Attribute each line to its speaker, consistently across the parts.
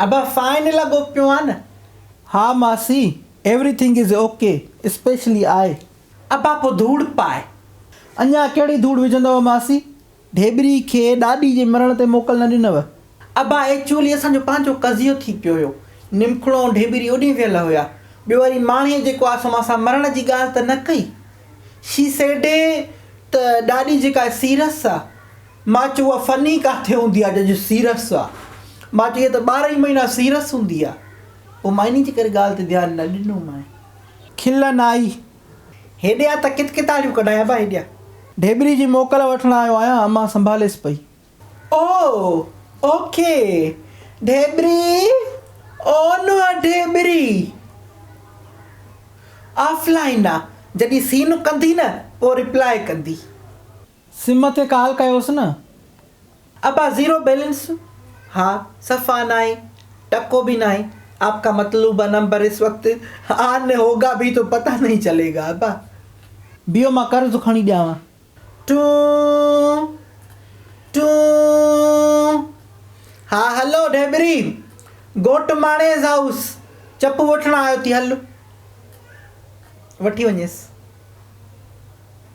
Speaker 1: ابا فائن لڳو پيو آ نه. ها ماسي
Speaker 2: everything is okay especially آء. ابا پو
Speaker 1: ڌوڙ پاء. اڃا
Speaker 2: ڪهڙي ڌوڙ وجهندؤ ماسي. ڍيٻري کي ڏاڏي جي مرڻ تي موڪل نه ڏنؤ. ابا ايڪچوئلي
Speaker 1: اسان جو پنهنجو قضيو ٿي پيو هيو. نمکڙو ۽ ڍيٻري اوڏهين ويل هيا. ٻيو وري ماڻهيء جيڪو آء سو مان سان مرڻ جي ڳالهه ته نه ڪئي. شي سيڊ ته ڏاڏي جيڪا سيرس آ. مان چيو اها فني ڪاٿي هوندي آهي جنهنجو سيرس آهي. مان چيو اها ته ٻارهن ئي مهينا سيرس هوندي آهي. پوء مان انهيء جي ڪري ڳالهه تي ڌيان نه ڏنومانء. کلن
Speaker 2: آئي. هيڏي آ
Speaker 1: ته ڪٿ ڪتاڙيون ڪڍان ابا هيڏي آ. ڍيبري جي
Speaker 2: موڪل وٺڻ آيو آهيان امان سنڀاليس پئي. او!
Speaker 1: او کي! ڍيبري! او نوح ڍيبري! آف لائين آ جڏهن سين ڪندي نه پوء ريپلائي ڪندي. سم
Speaker 2: تي ڪال ڪيوس نه. ابا
Speaker 1: زيرو بيلنس ها صفا ناهي ٽڪو به ناهي آپ ڪا مطلوبه نمبر اس وقت آن مين هوگا ڀي تو پتا نهي چلي گا ابا. بيهو
Speaker 2: مان قرض کڻي ڏيانو. ٽون
Speaker 1: ٽون ها هلو ڍيبري گهوٽ ماڻيس هائوس چپو وٺڻ آيو ٿي هل وٺي وڃيس.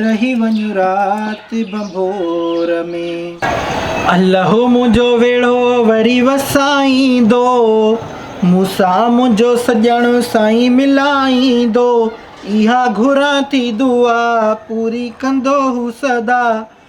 Speaker 2: رهي وڃ رات ڀنڀور ۾. الله منهنجو ويڙهو وري وسائيندو. مون سان منهنجو سڄڻ سائين ملائيندو. اها گهران ٿي دعا پوري ڪندو هو سدا.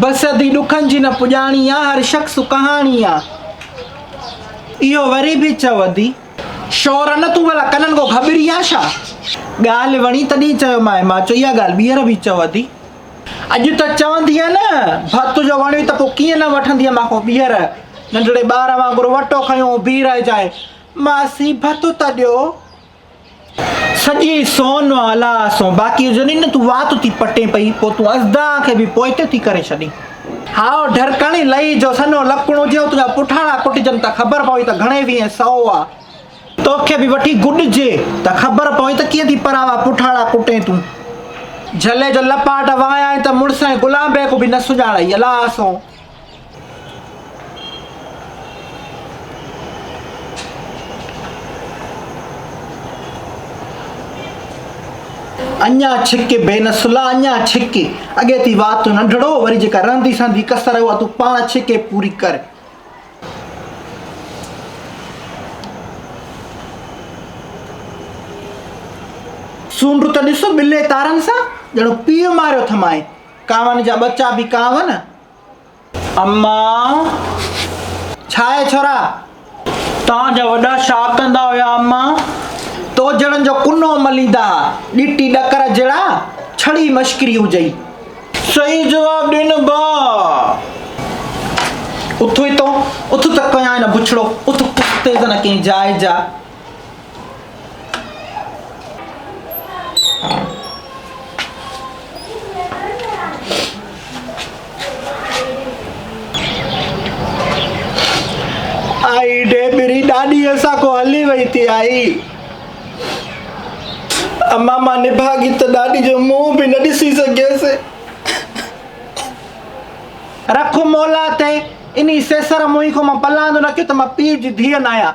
Speaker 2: بس ادي ڏکن جي نه پڄاڻي آ. هر شخص ڪهاڻي آ. اهو وري به چئو ادي. شور نه تون ڀلا ڪنن ڪو گهٻري آ ڇا. ڳالهه وڻي تڏهن چيومانء. مان چئي اها ڳالهه ٻيهر به چئو ادي. اڄ ته چوندينء نه. ڀت تنهنجو وڻيو ته پوء ڪيئن نه وٺندينء مان کان ٻيهر. ننڍڙي ٻار وانگر وٽو کنيو هو بيهرائجانء. ماسي ڀت ته ڏيو. سڄي سون مان الا سون باقي هجنين نه تون وات ٿي پٽين پئي پوء تون ازدا کي به پوئتي ٿي ڪري ڇڏين. هائو ڍرڪڻي لئي جو سنهو لڪڻ هجي ۽ تنهنجا پٺاڻا ڪٽجن ته خبر پوي ته گهڻي ويهين سئو آ. توکي به وٺي گڏجي ته خبر پوي ته ڪيئن ٿي پراوا پٺاڻا ڪٽين تون. جهلي جو لپاٽ وهايائين ته مڙس ۽ غلام بيگ به نه سڃاڻئي الا سون. اڃا ڇڪ بي نسلا اڃا ڇڪ اڳي ٿي وات تون ننڍڙو وري جيڪا رهندي سهندي ڪسر اها تون پاڻ ڇڪي پوري ڪر سونڊ ته ڏس ٻلي تارن سان ڄڻ پيء ماريو ٿمائي ڪانوان جا ٻچا به ڪانون اما، ڇا آهي ڇورا؟ توهان جا وڏا ڇا ڪندا هيا اما؟ تو جهڙن جو ڪنو مليندا ها، ڏٽي ڏڪر جهڙا، ڇڙي مشڪري هجئي. صحيح جواب ڏن ڀاء. اٿ اٿ تون، اٿ ته ڪيائين نه بڇڙو، اٿ پستيز نه ڪنهن جاء جا. آئي ڊيبري ڏاڏي اسان کو هلي وئي تي آئي اما مان نڀاڳي ته ڏاڏي جو منهن به نه ڏسي سگهيس رک مولا تي اني سيسر موهي کو مان پلاندو نه ڪيو ته مان پيء جي ڌيء نه آهيان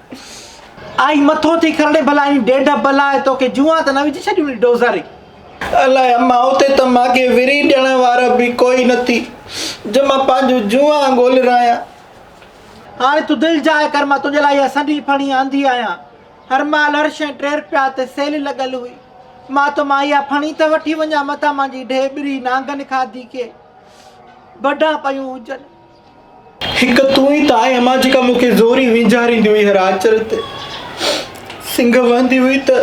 Speaker 2: آئي مٿو ٿي کرڙي ڀلا ايئن ڊيڍ بلا آهي توکي جوئان ته نه وجهي ڇڏيون ني ڊوزاري. الائي
Speaker 1: امان اتي ته مانکي وري ڏيڻ وارا به ڪوئي نه ٿي جو مان پنهنجون جوئان ڳولرايان. هاڻي
Speaker 2: تون دل جاء ڪر مان تنهنجي لاء اها سنهي ڦڻي آندي آهيان. هر مال هر شيء ٽير پيا تي سيل لڳل هئي. مان تو مان اها ڦڻي ته وٺي وڃان متان مانجي ڊيهه ٻري نانگن کاڌي کي بڍان پيون هجن. هڪ تون ئي
Speaker 1: ته آهين امان جيڪا مون کي زوري وينجهاريندي هئي هر آچر تي سنگهه وهندي هئي ته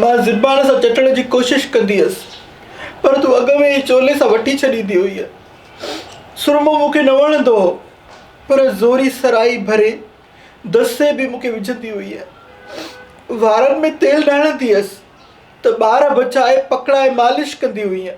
Speaker 1: مان زبان سان چٽڻ جي ڪوشش ڪندي هيس پر تون اڳ ۾ ئي چولي سان وٺي ڇڏيندي هئينء سرمو مون کي نه وڻندو هو پر زوري سرائي ڀري دسي به مون کي وجهندي هئينء وارن ۾ تيل نه هڻندي هيس ته ٻار بچائي پکڙائي مالش ڪندي هئينء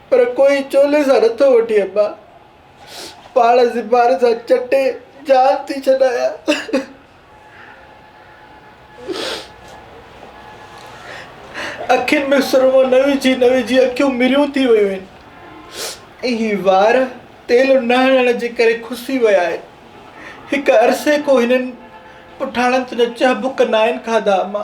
Speaker 1: پر ڪوئي چولي سان نٿو وٺي اما پاڻ زبان سان چٽي جان ٿي ڇڏايان اکين ۾ سرمو نه وجهي نه وجهي اکيون مريون ٿي ويون آهن ۽ هي وار تيل نه هڻڻ جي ڪري کسي ويا آهن هڪ عرصي کان هنن پٺاڻن تنهنجا ڇهه بک ناهن کاڌا اما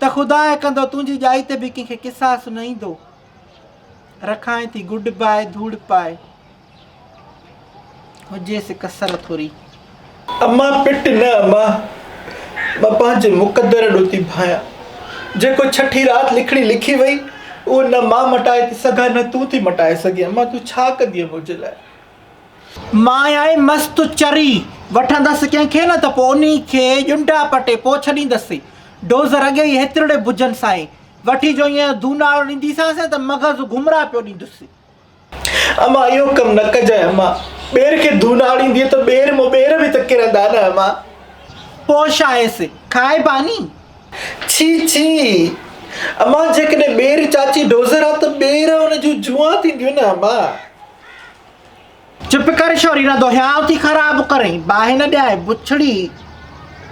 Speaker 2: ته خدا ائين ڪندو تنهنجي ڄائي تي به ڪنهن کي قصاص نه ايندو. رکائين ٿي گڊ باء ڌوڙ پائي هجيس ڪسر ٿوري. امان
Speaker 1: پٽ نه امان مان پنهنجي مقدر ڏو ٿي ڀانيان جيڪو ڇٺي رات لکڻي لکي وئي اهو نه مان مٽائي ٿي سگهان نه تون ٿي مٽائي سگهين امان تون ڇا ڪندينء منهنجي لاء
Speaker 2: مان آء مس تو چري وٺندس ڪنهن کي نه ته پوء انهي کي ڄنڊا پٽي پوء ڇڏيندس. ڊوزر اڳي ئي هيترڙي بجن سائين وٺي جو ايئن ڌوناڙو ڏينديسانس ته مغز گمراهه پيو ڏيندس. امان
Speaker 1: اهو ڪم نه ڪجانء امان ٻير کي ڌوناڙيندينء ته ٻير مون ٻير به ته ڪرندا نه امان. پوء
Speaker 2: ڇا هيس کائبا ني. ڇي ڇي
Speaker 1: امان جيڪڏهن ٻير چاچي ڊوزر ها ته ٻير ان جون جوئان ٿينديون نه امان.
Speaker 2: چپ ڪر شوري نه دهياء ٿي خراب ڪرين باهه نه ڏيائين بڇڙي.